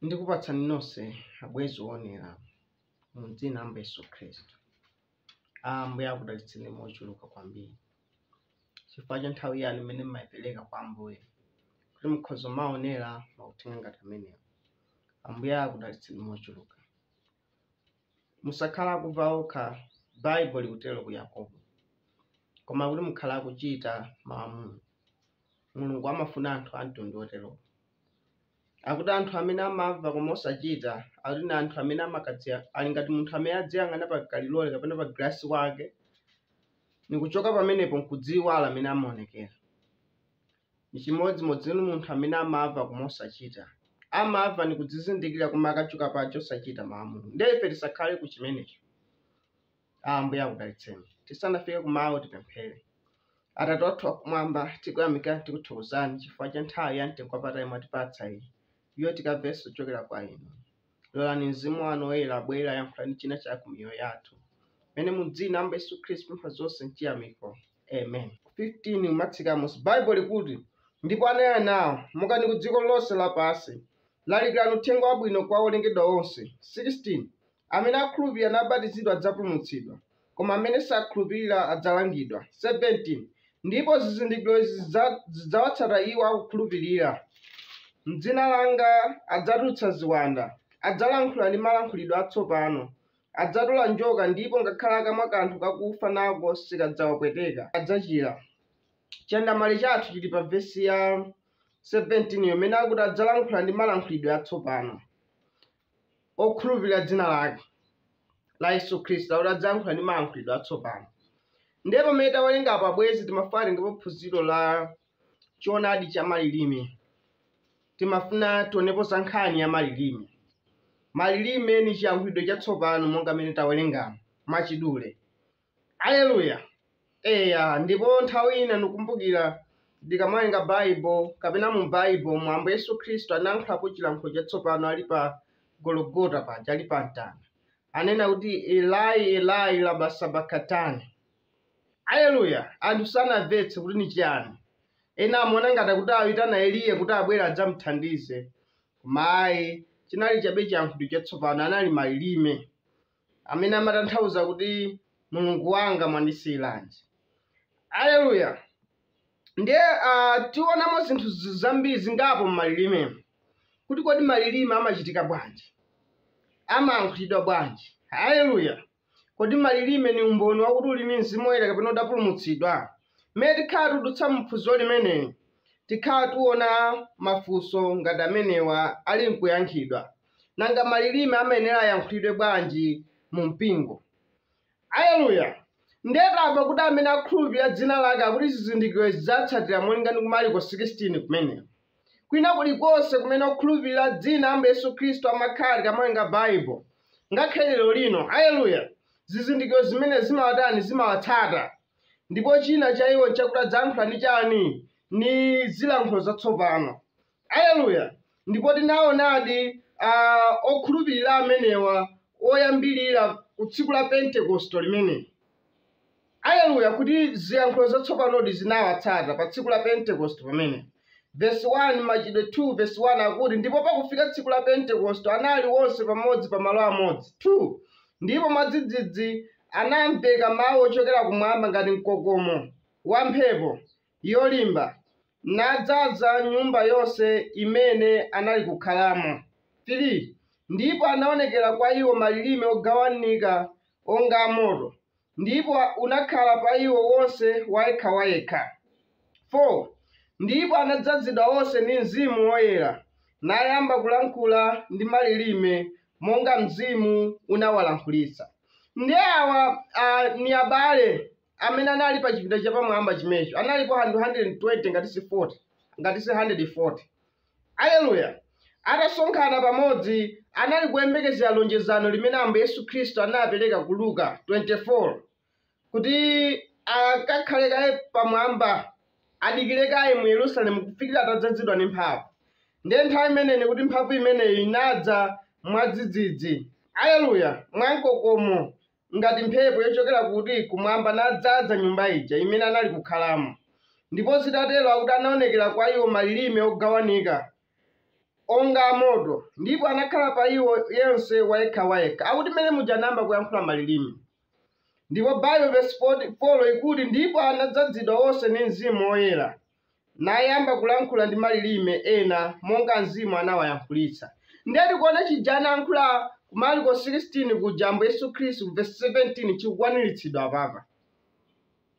ndikupatsani nonse abwenzi oonera mu dzina la Ambuye Yesu Khristu. Ambuye akudalitseni mochuluka kwambiri chifukwa cha nthawi yanu imene mmayipereka kwa Ambuye kuti mukhoza maonera mauthenga ngati amenewa. Ambuye akudalitseni mochuluka. Musakhale akumva okha, Baibulo ikutelo ku Yakobo, koma akuti mukhale akucita mau a Mulungu. Mulungu amafuna anthu a mtundu wotelowo. Akuti anthu amene amamva koma osacita, akuti ni anthu amene amakadziya, ali ngati munthu amene adziyang'ana pa kalilole kapena pa gilasi wake, ni kucoka pamenepo n'kudziiwala amene amaonekela. Nichimodzi-modzi ni munthu amene amava koma osachita. Amava nikudzizindikila koma akachoka paja osachita mau a Mulungu. Ndiye ife tisakhale ku chimenecho. A Ambuye akudalitseni. Tisanafike ku mau tipemphele. Atate wathu wakumwamba, tikuyamika tikuthokozani chifukwa cha nthawi ya mtengo wapatali mwatipatsa iyi, iyo tikavenso kuchokera kwa inu. Lolani Mzimu wanu Woyera abwere, ayankhulani china chake ku miyoyo yathu. Mene mu dzina la Ambuye Yesu Khristu pempha zonse mchiyamiko. Amen. 15 kumatsika mmusi Bible likuti ndipo anena nawo mukani ku dziko lonse lapansi lalikirani uthenga wabwino kwa olengedwa onse 16 amene akhulupirira nabatizidwa adzapulumutsidwa koma amene sakhulupirira adzalangidwa. 17 ndipo zizindikiro izi zidzawatsata iwo akukhulupirira. M'dzina langa adzatulutsa ziwanda, adzalankhula ndi malankhulidwe atsopano, adzatola njoka ndipo ngakhale akamwa kanthu kakufa nako sikadzawapweteka, adzachira. Chandamale chathu chili pa vesi ya 17 yomene akuti adzalankhula ndi malankhulidwe atsopano. okhulupirira dzina lake la Yesu Khristu akuti adzayankhula ndi mayankhulidwe atsopano. Ndiye pamene tawerenga apa abwenzi timafuna titengepo phunziro la choonadi cha malilime. Timafuna tionepo za nkhani ya malilime. Malilime ni chiyankhulidwe chatsopano monga mene tawerengamo mwachidule. Aleluya! Eya, ndipo nthawi ina ndikumbukira ndikamawerenga Baibo, kapena mu Baibo mu Ambuye Yesu Kristu anayankhulapo chilankhulo chatsopano ali pa Gologota paja, ali pa mtanda. Anena kuti, Elai, Elai, lama sabakatani? Aleluya! Anthu sanamvetse kuti ni chiyani. Ena amaona ngati kuti aitana Eliya kuti abwere adzamthandize. Koma ayi, chinali chabe chiyankhulidwe chatsopano, anali malilime. amene amatanthauza kuti mulungu wanga mwandisiyiranji aleluya ndiye uh, tionamo zinthu z- zambiri zingapo m'malilime kuti kodi malilime amachitika bwanji amayankhulidwa bwanji haleluya kodi malilime ni umboni wakuti uli ni mzimu woyera kapena udapulumutsidwa mmene tikhala tudutsa mphunziro limeneli tikhala tuona mafunso ngati amenewa ali nkuyankhidwa Nanga malilime amayenera ayankhulidwe bwanji mu mpingo? Aleluya! Ndiye tamva kuti amene akhulupirira dzina lake akuti zizindikiro zidzatsatira molinga ndi ku Mariko 16 kumeneko. Kwina kulikonse kumene okhulupirira dzina Ambuye Yesu Khristu amakhala tikamawerenga Bible, ngakhale lero lino, aleluya, zizindikiro zimenezi zimawatani zimawatsata. Ndipo china cha iwo nchakuti adzayankhula ndi chani? Ndi zilankhulo zatsopano. Aleluya! Ndipo tinawonadi a, okhulupirira amenewa oyambirira ku Tsiku la Pentekoste limeneli, aleluya, kuti ziyankhulo zatsopanodi zinawatsata pa Tsiku la Pentekoste pamene. Vesi 1, Machitidwe 2 vesi 1 akuti, Ndipo pakufika tsiku la Pentekoste anali onse pamodzi pa malo amodzi, 2 ndipo mwadzidzidzi anamveka mawu ochokera kumwamba ngati mkokomo wa mphepo, yolimba, nadzaza nyumba yonse imene anali kukhalamo, 3 ndipo anaonekera kwa iwo malilime ogawanika onga a moto, ndipo unakhala pa iwo wonse wayekhawayekha, 4 ndipo anadzazidwa onse ndi Mzimu Woyera, nayamba kulankhula ndi malilime monga Mzimu unawalankhulitsa. Ndiye awa a, ni abale. amene anali pa chipinda chapamwamba chimecho analipo 120 ngati si 40 ngati si 140 aleluya atasonkhana pamodzi anali kuyembekezera lonjezano limene ambuye yesu khristu anapereka ku luka 24 kuti akakhale kaye pamwamba adikire kaye mu yerusalemu kufikira atadzazidwa ndi mphamvu ndiye nthawi imeneyi kuti mphamvu imeneyi inadza mwadzidzidzi aleluya mwamkokomo ngati mphepo yochokera kuti kumwamba nadzaza nyumba ija imene anali kukhalamo. Ndipo zitatero akuti anaonekera kwa iwo malilime ogawanika onga amoto, ndipo anakhala pa iwo yense wayekhawayekha. Akuti mmene muja anayamba kuyankhula malilime. Ndipo Bible verse 4 ikuti ndipo anadzazidwa onse ndi Mzimu Woyera. nayamba kulankhula ndi malilime ena monga Mzimu anawayankhulitsa. Ndiye tikuona chija anayankhula ku Marko 16 kuja Ambuye Yesu Khristu ku vesi 17 chikukwaniritsidwa apapa.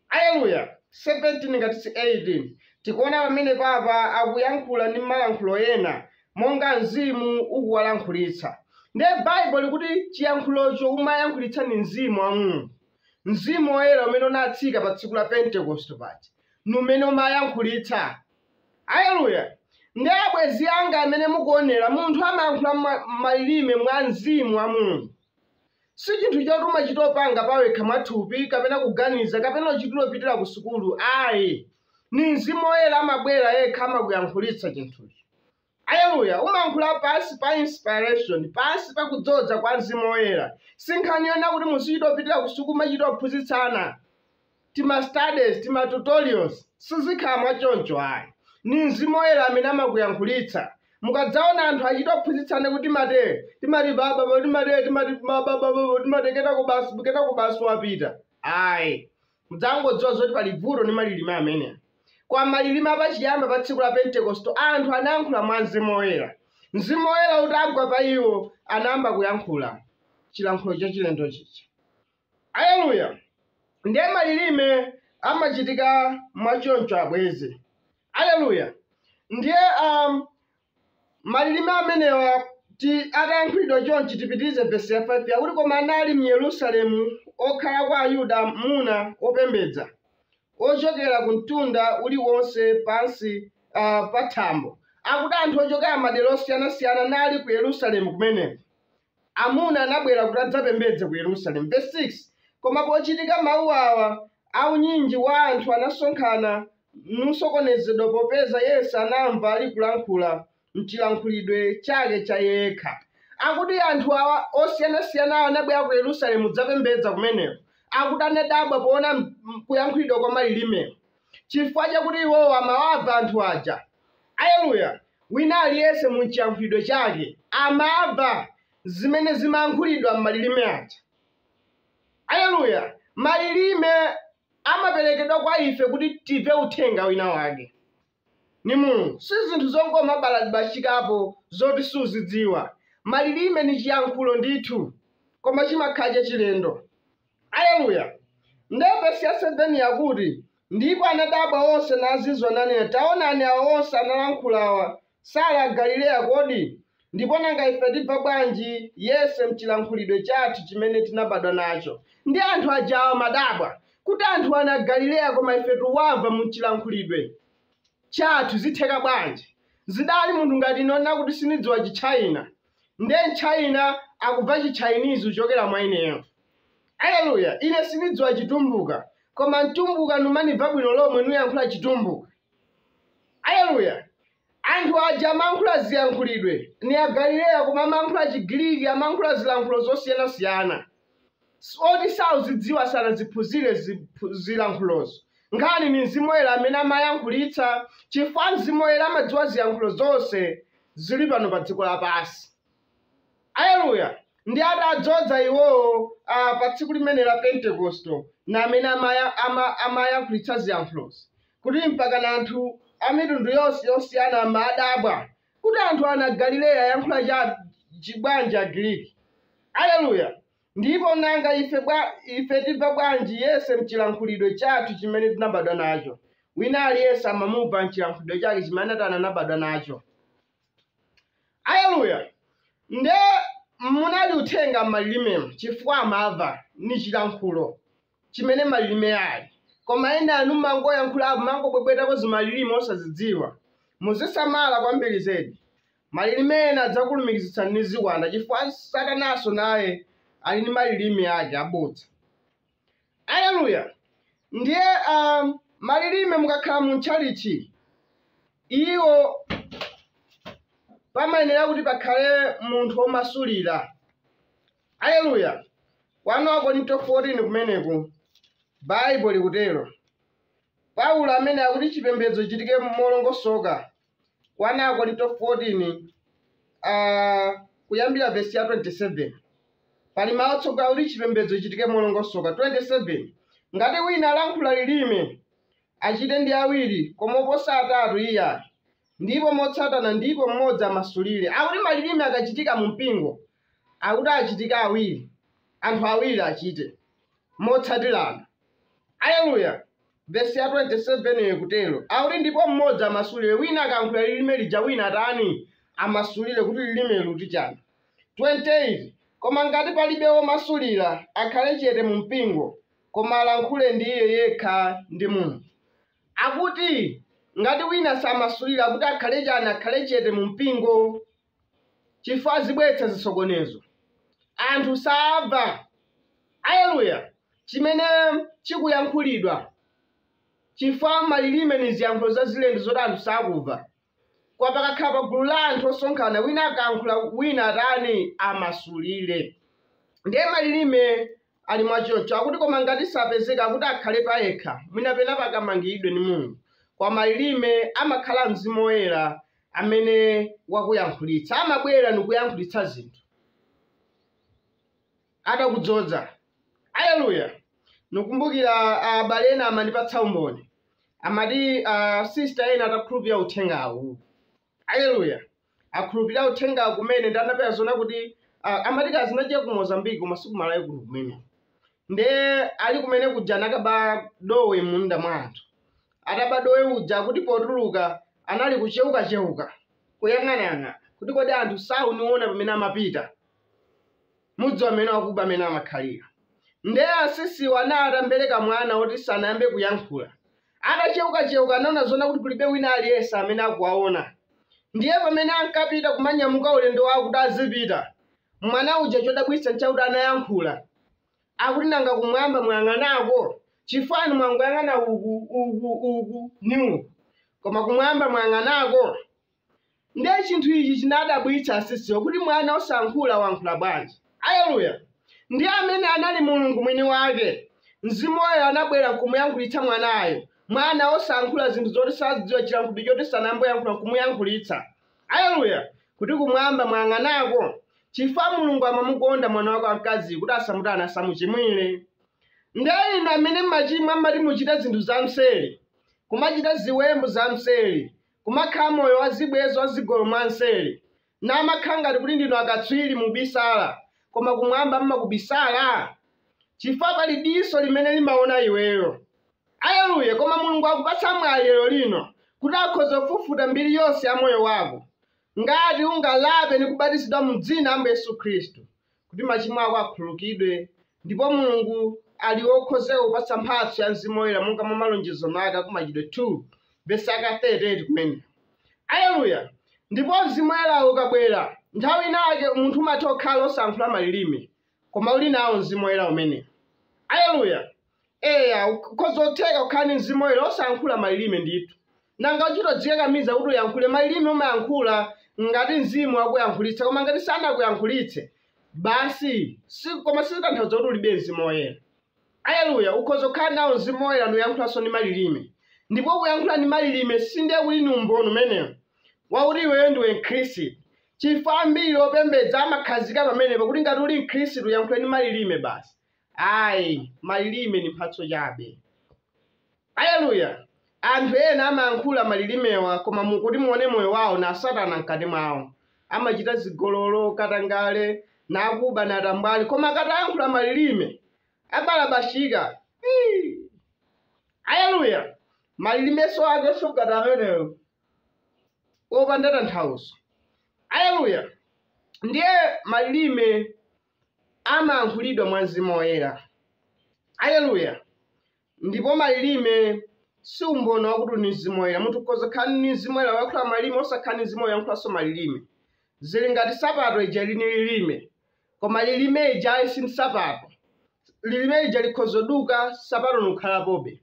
Aleluya! 17 ngati si 18 tikuona pamene papa akuyankhula ndi malankhulo ena monga mzimu ukuwalankhulitsa. Ndiye Baibulo likuti chiyankhulocho umayankhulitsa ndi mzimu wa Mulungu, mzimu woyera umene unatsika pa tsiku la Pentekoste paja. ni umene umayankhulitsa aleluya ndiye abwezi anga amene mukuonera munthu amayankhula mwa- malilime mwa mzimu wa mulungu si chinthu choti umachita opanga pawekha mwathupi kapena kuganiza kapena uchitira opitira ku sukulu ayi ni mzimu woyera amabwera yekha amakuyankhulitsa chinthuchi Aleluya! Umayankhula pansi pa inspiration, pansi pa kudzoza kwa Mzimu Woyera. Si nkhani yonena kuti muzichita opitira ku sukulu, machita ophunzitsana, tima studies, tima tutorials. Sizikhala mwa choncho ayi. Ni Mzimu Woyera amene amakuyankhulitsa. Mukadzaona anthu achita ophunzitsana kuti timate, timati baba, bo, timate, timati baba, baba, bo, timate, kenako basi, kenako basi wapita. Ayi. Mudzangodziwa zoti pali vuto ndi malilime amene. Koma malilime a pachiyamba pa tsiku la Pentekoste, anthu anayankhula mwa Mzimu Woyera. Mzimu Woyera utagwa pa iwo, anayamba kuyankhula chilankhulo chachilendo chija. Aleluya! Ndiye malilime amachitika mwa choncho, abwezi. Aleluya! Ndiye um, malilime amenewa ti atayankhulidwa chonchi tipitirize vesi ya 5 yakuti koma anali m'yerusalemu okhala kwa ayuda muna opembedza ochokera ku mtundu uliwonse pansi uh, pa thambo akuti anthu ochokera madera osiyanasiyana nali ku yerusalemu kumeneko Amuna anabwera kuti adzapembedze ku Yerusalemu. Vesi 6, Koma pochitika mau awa, unyinji wa anthu anasonkhana, nusokonezedwa popeza yense anamva alikulankhula m'chilankhulidwe chake cha iye yekha. Akuti anthu awa osiyanasiyanawa anabwera ku Yerusalemu kudzapembedza kumeneko. Akuti anadabwa poona kuyankhulidwa kwa malilimeko. chifukwa chakuti iwowo amawava anthu aja. Aleluya! Wina aliyense mu chiyankhulidwe chake amava zimene zimayankhulidwa mmalilime aja. Aleluya! Malilime amaperekedwa kwa ife kuti tive uthenga wina wake. Ni Mulungu. Si zinthu zongomabaladibashikapo zoti suzidziwa. Malilime ni chiyankhulo ndithu, koma chimakhala chachilendo. Aleluya! Ndiye vesi ya 7 yakuti, Ndipo anadabwa onse nazizwa, nanena, Taonani, awa onse alankhulawa sali a Galileya kodi? Ndipo nanga ife tibva bwanji yense m'cilankhulidwe cathu cimene tinabadwa naco? Ndiye anthu aja amadabwa kuti anthuwa ni a Galileya, koma ife tikuwamva m'cilankhulidwe cathu, zitheka bwanji? Zidali munthu ngati ine onena kuti sinidziwa Cichaina. ndiye mchayina akubva chitchainizi kuchokera mwa ineyo aleluya ine sinidziwa chitumbuka koma mtumbuka numanibva bwino lomwe nuyankhula chitumbuka aleluya anthu aja amankhula ziyankhulidwe ni agalileya koma amankhula chigiriki amankhula zilankhulo zosiyanasiyana Zoti sakuzidziwa sanaziphunzire zilankhulozo. Nkhani ni Mzimu Woyera amene amayankhulitsa chifukwa Mzimu Woyera amadziwa ziyankhulo zonse zili pano pa dziko lapansi. Aleluya! Ndi adadzoza iwowo a, pa tsiku limene la Pentekosto na amene amaya, ama, amayankhulitsa ziyankhulozi kuti mpakana anthu a mitundu yonse yosiyana amadabwa Kuti anthuwa n'a Galileya ayankhula cha, chi bwanji Chigiriki? Aleluya! Ndipo nanga ife bwa, ife timva bwanji yense mchilankhulidwe chathu chimene tinabadwa nacho? Wina aliyense amamumva mchilankhulidwe chake chimene anabadwa nacho. Aleluya! Nde munali uthenga mmalilimemu chifukwa amamva, ni chilankhulo. chimene malirime ali. Koma ena inu mmangoyankhulapo mmangobwebwetako zimalirime osazidziwa. Muzisamala kwambiri zedi. Malirime ena adzakulumikizitsani ndi ziwanda chifukwa satananso naye ali ndi malirime ake abodza. Aleluya! Ndiye a, malirime mukakhala mu mtchalitchi, iwo pamayenera kuti pakhale munthu womasulira. Aleluya! 1 Akorinto 14 kumeneko, Baibulo likutero. Paulo amene akuti chipembedzo chitike molongosoka, 1 Akorinto 14, ah, kuyambira vesi ya 27. Pali mawu otsogola akuti chipembedzo chitike molongosoka. 27, ngati wina alankhula lilime, achite ndi awiri, koma oposa atatu iyayi. Ndipo motsatana ndipo mmodzi amasulire. Akuti malirime akachitika mu mpingo, akuti achitika awiri, anthu awiri achite, motsatirana. Aleluya! Vesi ya 27 ikutero, akuti, Ndipo mmodzi amasulire, wina akayankhula lirime lija, wina atani? amasulire, kuti lirime likuti chani. 28, Koma ngati palibe womasulira, akhale chete mu mpingo, koma alankhule ndi iye yekha ndi Mulungu. akuti, Ngati wina samasulira kuti akhale chani akhale chete mu mpingo chifukwa zibweretsa zisokonezo. Anthu samva, Aleluya! chimene chikuyankhulidwa chifukwa malilime ni ziyankhulo za zilendo zoti anthu sakumva. Koma pakakhala pa gulu la anthu osonkhana wina akankhula wina atani amasulire. Ndiye malilime ali mwachoncho akuti koma ngati sapezeka kuti akhale payekha mwina pena pakamangiridwe ndi mulungu koma malilime amakhala mzimu woyera amene wakuyankhulitsa amabwera ndikuyankhulitsa zinthu atakudzoza aleluya nikumbukira abale ena amandipatsa umboni amati uh, sister ena atakhulupirira uthengawu Aleluya! Atakhulupirira uthenga kumene ndinapeza zoona kuti ah, amati kazi naje ku Mozambique koma si ku Malawi kuno kumene. Nde ali kumene kuja anakaba dowe mmunda mwa anthu. Ataba dowe uja kuti potuluka anali kucheuka cheuka kuyang'anayang'ana kuti kodi anthu sakundiona pamene amapita. mudziwa mmene wakuba amene amakhalira nde asisiwo anali atambereka mwana oti sanayambe kuyankhula atacheukacheuka anaona zoona kuti kulibe wina aliyense amene akuwaona ndiye pamene ankapita kumanyamuka ulendo wawo kuti azipita mwana uja chodabwitsa nchakuti anayankhula akuti nanga kumwamba mwayang'anako chifukwa inu mwangoyang'ana uku uku uku ni uku koma kumwamba mwayang'anako Ndiye chinthu ichi chinawadabwitsa asisiwo, kuti Mwana wosankhula wankhula bwanji. Aleluya! Ndiye ameneyo anali Mulungu Mwiniwake, Mzimu Woyera anabwera nkumuyankhulitsa Mwanayo, Mwana wosankhula zinthu zoti sazidziwa, chilankhulidwe choti sanayambe wayankhula nkumuyankhulitsa. Aleluya! Kuti Kumwamba mwayang'anako? Chifukwa Mulungu amamukonda mwana Wake wamkaziyu, kuti asamutani, asamuchimwire. Ndiye inu amene mmachimwa mmati muchita zinthu zamseri, kumachita ziwembu zamseri, kumakhala moyo wa zibwenzi wa zigololo mwa mseri, namakhala ngati kuti ndinu akatswiri mubisala, koma kumwamba mmakubisala? Chifukwa pali diso limene limaona iweyo. Aleluya! Koma Mulungu akupatsa mwayi lero lino kuti akhoza kufufuta mbiri yonse ya moyo wako, ngati ungalape ndi kubatizidwa mu Dzina la Ambuye Yesu Khristu, kuti machimo ako akhululukidwe ndipo mulungu ali wokonzeka kupatsa mphatso ya mzimu woyera monga mwa malonjezo ake a ku Machitidwe 2 vesi yake 38 kumene aleluya ndipo mzimu woyerawo ukabwera nthawi inayake munthu umatha kukhala osankhula malilime koma uli nawo mzimu woyera umene aleluya Eya, ukhoza kutheka kukhala ndi mzimu woyera osayankhula malilime ndithu. Nanga uchitodzikakamiza kuti uyankhule malilime umayankhula ngati mzimu wakuyankhulitsa koma ngati sanakuyankhulitse basi si, koma sizitanthauza kuti ulibe mzimu woyera. Aleluya, ukhoza kukhala nawo mzimu woyera nuyankhulanso ndi malilime. Ndipo kuyankhula ndi malilime sindiye kuti ni umboni umenewo wakuti iweyo ndiwe Mkhristu. Chifukwa ambiri opembedza amakhazika pamenepo kuti ngati uli Mkhristu uyankhule ndi malilime basi. Ayi, malilime ndi mphatso chabe. Aleluya! Anthu ena amayankhula malilimewa koma mu kuti muone moyo wao na Satana mkati mwao. Amachita zigololo, katangale, na kuba na atambwali koma akatayankhula malilime abalabashika. Iii! Aleluya! Malilimenso akenso ngati amenewo opanda tanthauzo. Aleluya! Ndiye malilime amayankhulidwa mwa Mzimu Woyera. Aleluya! Ndipo malilime si umboni wakuti uli ndi Mzimu Woyera. Munthu ukhoza kukhala ndi Mzimu Woyera wayankhula malilime osakhala ndi Mzimu Woyera wayankhulanso malilime. Zili ngati sapato ija ili ndi lilime, koma lilime lijali si nsapato. Lilime lija likhoza kuduka, sapato nukhalapobe.